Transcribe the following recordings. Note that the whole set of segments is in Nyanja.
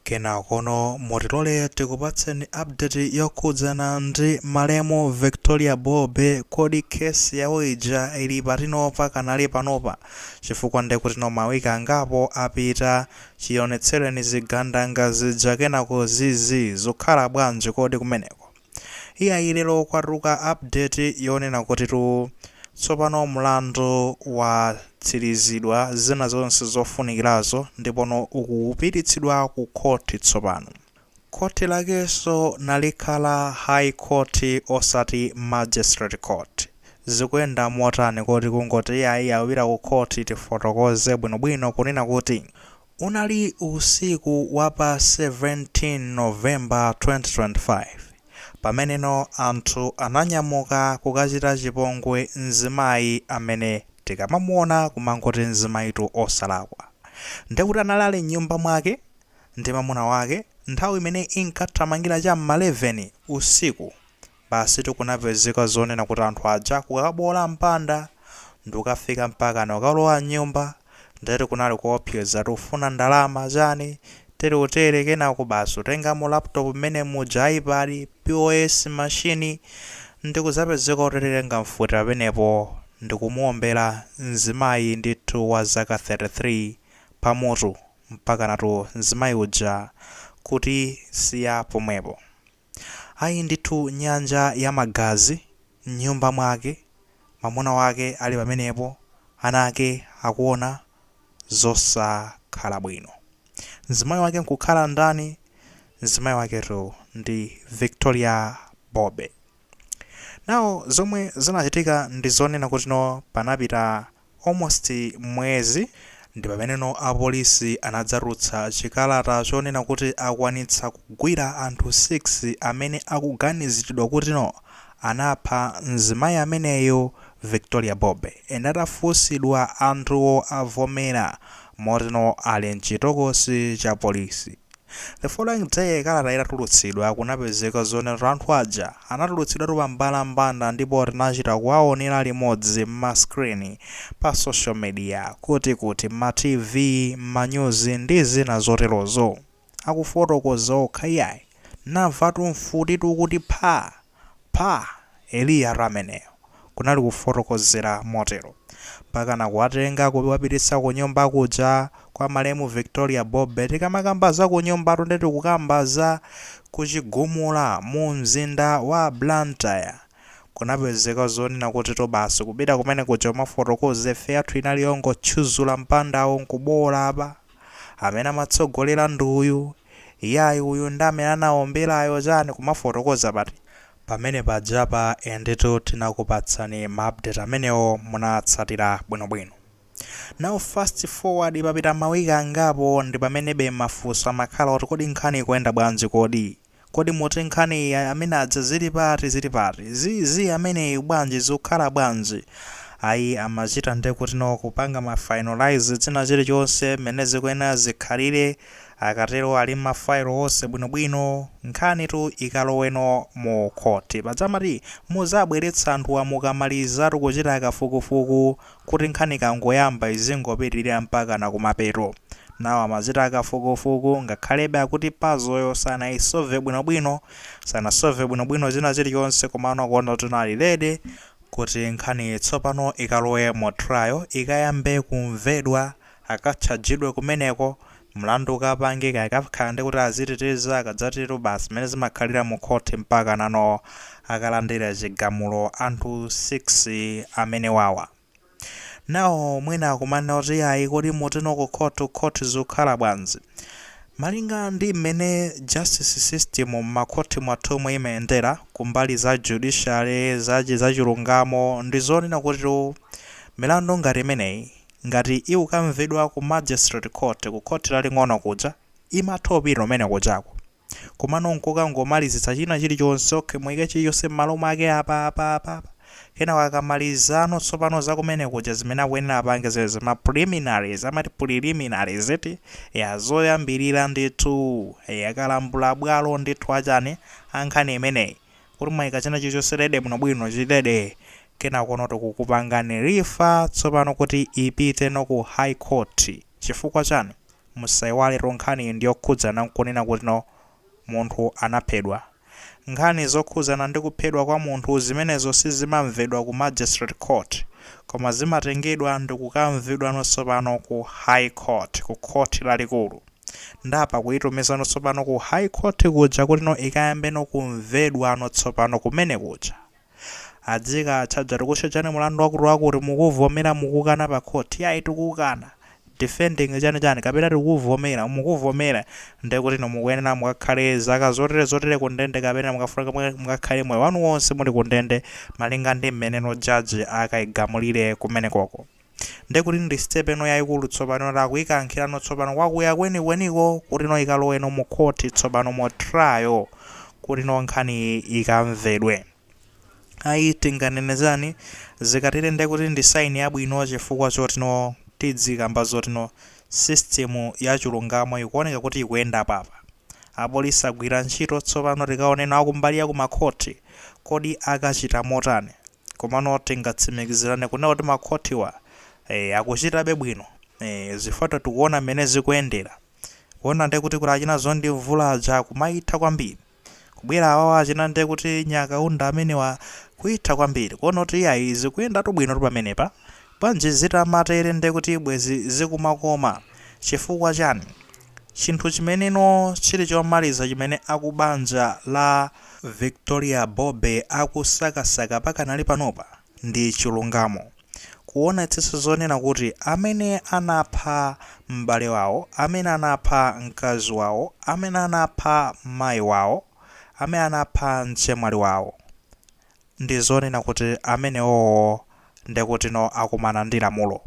Kenakono mutilole tikupatseni update yokhudzana ndi malemu Victoria Bobe kodi case yawo ija ili patino pakanali panopa chifukwa ndekutino mawiki angapo apita chionetsereni zigandanga zija kenako zizii zukhala bwanji kodi kumeneko? Iyayi lero kwatuluka update yonena kutitu tsopano mlandu watsirizidwa zina zonse zofunikirazo ndipono ukupititsidwa ku khoti tsopano. Khoti lakenso nalikhala High Court osati Magistrate Court. Zikuyenda motani kodi kungoti iyayi apita ku khoti tifotokoze bwinobwino kunena kuti Unali usiku wa pa 17 November 2025 pameneno anthu ananyamuka kukachita chipongwe mzimayi amene tikamamuona kumangoti mzimayitu osalakwa ndekuti anali ali mnyumba mwake ndi mamuna wake nthawi imene inkathamangira cha m'ma 11 usiku Basitu kunapezeka zonena kuti anthu aja kukaboola mpanda ndikukafika mpakana kukalowa m'nyumba ndeti kunali kuopseza tifuna ndalama chani teretere kenako basi kutengamo laptop mmene muja, ipad, pos machine ndikudzapezeka atenga mfuti pamenepo ndikumuombera mzimayi ndithu wa zaka 33 pamutu mpakanatu mzimayi uja kutisiya pomwepo. Ayi ndithu nyanja ya magazi mnyumba mwake mamuna wake ali pamenepo ana ake akuona zosakhala bwino mzimayi wake nkukhala ndani mzimayi waketu ndi Victoria Bobe now zomwe zinachitika ndi zonena kutino panapita almost mwezi ndipameneno apolisi anadzatulutsa chikalata chonena kuti akwanitsa kugwira anthu 6 amene akuganizilidwa kutino anapha mzimayi ameneyo Victoria Bobe and atafunsidwa anthuwo avomera motino ali mchitokosi cha polisi. The following day kalata itatulutsidwa kunapezeka zonenatu anthu aja anatulutsidwatu pambalambanda ndipo tinachita kuwaonela limodzi mma screen, pa social media, kuti kuti, mma TV, mma news ndi zina zoterozo. Akufotokoza okha iyayi. Tinamvatu mfutitu kuti phaa! Pha! Eliyatu ameneyo! kunali kufotokozera motero. Mpakana kuwatenga kuwapititsa kunyumba kuja kwa malemu Victoria Bobe. Tikamakamba za kunyumbatu nde tikukamba za ku Chigumula mu mzinda wa Blantyre. Kunapezeka zonena kutitu basi kupita kumene kuja kumafotokoza ife yathu inali yongotchuzula mpandawo n'kuboola apa. amene amatsogolera ndi uyu, iyayi uyu ndi amene anawomberayo chani kumafotokoza but pamene pajapa nditu tinakupatsani ma update amenewo munatsatira bwino bwino now fast forward papita ma week angapo ndipamenebe mafunso amakhala kuti kodi nkhani ikuyenda bwanji kodi? Kodi moti nkhani ija amene aja zili pati zili pati? Zi zi ameneyu bwanji zikukhala bwanji? Ayi amachita ndekuti no kupanga ma finalise china chilichonse mmene zikuyenera zikhalire akatero ali ma file onse bwinobwino nkhanitu ikalowe no mu khothi. Paja amati muzabweretsa anthuwa mukamalizatu kuchita kafukufuku kuti nkhani ikangoyamba izingopitilira mpakana kumapeto. Nawo amachita kafukufuku, ngakhalebe akuti puzzle yo sanayi solve bwino bwino, sana solve bwino bwino china chilichonse komano akuona kuti nawo ali ready kuti nkhaniyi tsopano ikalowe mu trial, ikayambe kumvedwa akatchajidwe kumeneko, mlandu ukapangike, ikakhala ndi kuti aziteteza, akadzatero basi mmene zimakhalira mu khoti mpakanano akalandire chigamulo anthu 6 amenewawa. Now mwina akumanena kuti iyayi kodi motino ku court to court zikukhala bwanji? Malinga ndi mmene justice system mmakhoti mwathumu imayendera ku mbali za judiciary, za zachilungamo ndi zonena kuti milandu ngati imeneyi Ngati ikukamvedwa ku Magistrate Court ku Khoti Laling'ono kuja, imathera komwe kujako. Komano nkungomalizitsa china chilichonse, ok, muike chilichonse m'malo mwake apa, apa, apa, apa, kenako akamalizano tsopano za kumene kuja zimene akuyenera apange zimenezo, ma preliminaries, amati preliminaries eti, eya, zoyambirira ndithu, eya, kalambulabwalo ndithu a chani, a nkhani imeneyi. kuti mwaika china chilichonse ready bwinobwino chili ready kenakono tikukupangani refer tsopano kuti ipite no ku high court chifukwa chani musaiwale tu nkhaniyi ndiyokhudzana nkunena kuti no munthu anaphedwa nkhani zokhudzana ndi kuphedwa kwa munthu zimenezo sizimamvedwa ku magistrate court koma zimatengedwa ndi kukamvedwano tsopano ku high court ku khoti lalikulu nde apa akuitumizano tsopano ku high court kuja kutino ikayambeno kumvedwano tsopano kumene kuja adzikatchaja tikutchajani mulandu wakuti wakuti mukuvomera mukukana pa court yayi tikukana defending chani chani kapena tikuvomera mukuvomera nde kutino mukuyenera mukakhale zaka zotere zotere kundende kapena mukufunika mukakhale moyo wanu wonse muli kundende malinga ndi mmeneno judge akaigamulire kumenekoko Ndiye kuti ndi step ino yaikulu tsopano yoti akuikankhirano tsopano kwakuya kwenikweniko kutino ikaloweno mu court tsopano mu trial kutino nkhaniyi ikamvedwe. Ayi tinganene zani? Zikatere ndiye kuti ndi sign yabwino chifukwa chotino tidzikamba zotino system yachilungamo ikuoneka kuti ikuyenda apa apa. Apolisi agwira ntchito tsopano tikaoneno akumbali yaku ma court kodi akachita motani. Komano tingatsimikizirane kunena kuti makhotiwa ee akuchitabe bwino ee chifukwa tikuona mmene zikuyendera kuona nde kuti kuti achina Zondi Mvula aja kumaitha kwambiri kubwera awawa achina nde kuti Nyakaunda amenewa kuitha kwambiri kuona kuti iyayi zikuyendatu bwino pamenepa bwanji zitamatere nde kuti bwezi zikumakoma chifukwa chani Chinthu chimeneno chiri chomaliza chimene aku banja la Victoria Bobe akusakasaka pakanali panopa ndi chilungamo. Kuwonetsetsa zonena kuti amene anapha m'bale wawo, amene anapha mkazi wawo, amene anapha mayi wawo, amene anapha mchemwali wawo, ndi zonena kuti amenewowo ndekutino akumana ndi lamulo.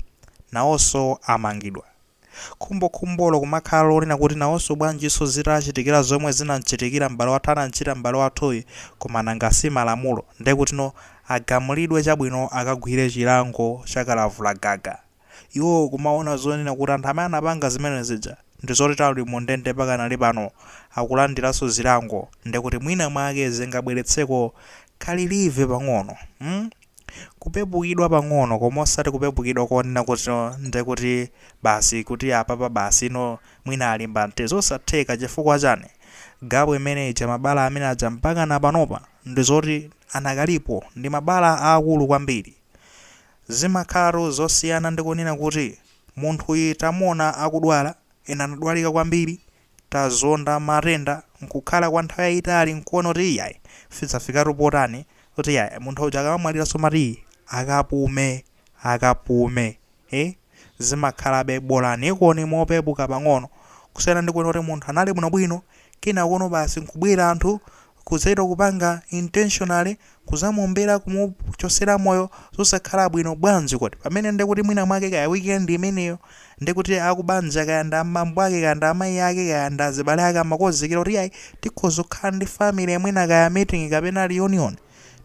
Nawonso amangidwa. Khumbokhumbolo kumakhala lonena kuti nawonso bwanjinso zitachitikira zomwe zinamchitikira m'bale wathu anamchita m'bale wathuyi koma nanga si malamulo ndekutino agamulidwe chabwino akagwire chilango cha kalavula gaga iwo kumawona zonena kuti anthu amene anapanga zimene zija ndizoti ali mu ndende pakanali pano akulandiranso zilango ndekuti mwina mwake zingabweretseko ka relief pang'ono kupepukidwa pang'ono koma osati kupepukidwa konena kuti no nde kuti basi kuti apapa basi no mwina alimba mtima zosatheka chifukwa chani gap imene ija mabala amene aja mpakana panopa ndizoti anakalipo ndi mabala aakulu kwambiri zimakhalatu zosiyana ndi kunena kuti munthuyi tamuona akudwala ena anadwalika kwambiri tazonda matenda nkukhala kwa nthawi yayitali nkuona kuti iyayi zidzafikatu potani kuti iyayi munthu uja akamamwaliranso umati ii akapume akapume ee zimakhalabe bolaniko ndi mopepuka pang'ono kusiyana ndi kuona kuti munthu anali bwinobwino kenakono basi nkubwera anthu Kudzachita kupanga intentionally kudzamuombera kumuchotsera moyo zosakhala bwino bwanji kuti pamene ndi kuti mwina mwake kaya weekend imeneyo ndi kuti akubanja kaya ndi abambo ake kaya ndi amayi ake kaya ndi azibale ake amakonzekera kuti ayi tikhoza kukhala ndi family mwina kaya meeting kapena reunion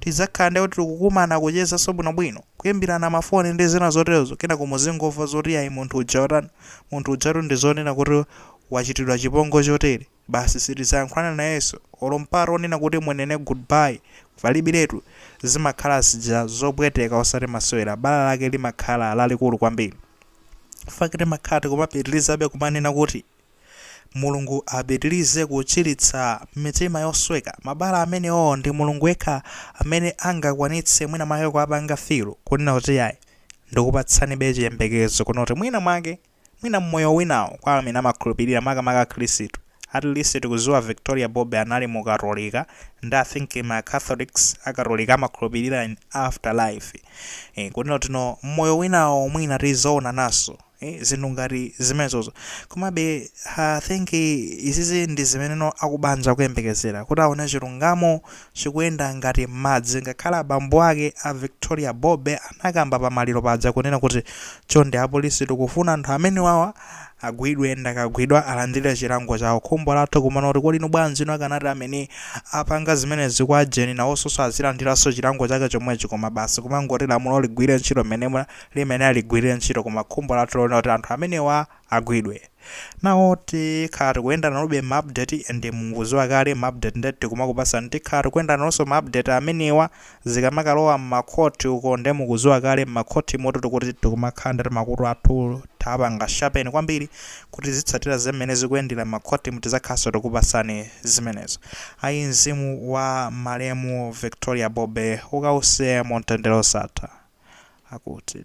tidzakhala ndi kuti tikukumana kuchezanso bwinobwino kuimbirana mafoni ndi zina zoterozo kenako muzingomva zoti ayi munthu uja watani munthu ujatu ndi zonena kuti wachitidwa chipongwe chotere Basi sitizayankhulana nayenso olo mpata onena kuti munene good bye palibiretu, zimakhala zija zopweteka osati masewera, bala lake limakhala lalikulu kwambiri mpaka timakhala tikumapitilizabe kumanena kuti Mulungu apitilize kuchilitsa mitima yosweka, mabala amenewo ndi Mulungu yekha amene angakwanitse mwina mwake kuwapanga fill kunena kuti ayi ndikupatsanibe chiyembekezo kunena kuti mwina mwake. Mwina mmoyo winawo kwa amene amakhulupilira makamaka Khristu, at least tikuziwa Victoria Bobe anali mu katolika nde I think ma Catholics a katolika amakhulupilira in after life eh kunena kuti no mmoyo winawo mwina tizoonananso eh zinthu ngati zimenezozo komabe I think izizi ndi zimeneno akubanja akuyembekezera kuti aone chilungamo chikuyenda ngati madzi ngakhale abambo ake a Victoria Bobe anakamba pa maliro paja kunena kuti chonde apolisi tikufuna anthu amenewawa agwidwe nde akagwidwa alandile chilango chawo khumbo lathu kumanena kuti kodi inu bwanji inu akanati amene apanga zimenezi kwa gentle nawonsoso azilandilanso chilango chake chomwechi koma basi kumangoti lamulo ligwile ntchito mmene limenera ligwilile ntchito koma khumbo lathu n'lonena kuti anthu amenewa agwidwe. Now tikhala tikuyenda nanobe ma update nde mukuziwa kale ma update nde tikumakupatsani tikhala tikuyenda nanonso ma update amenewa zikamakalowa mma court uko nde mukuziwa kale mma court motu tikuti tikumakhala ndi timakutu athu tapanga sharpen kwambiri kuti tizitsatira mmene zikuyendera mma court mu tizakhalanso tikupatsani zimenezo ayi mzimu wa malemu Victoria Bobe ukause mu mtendere wosatha akuti.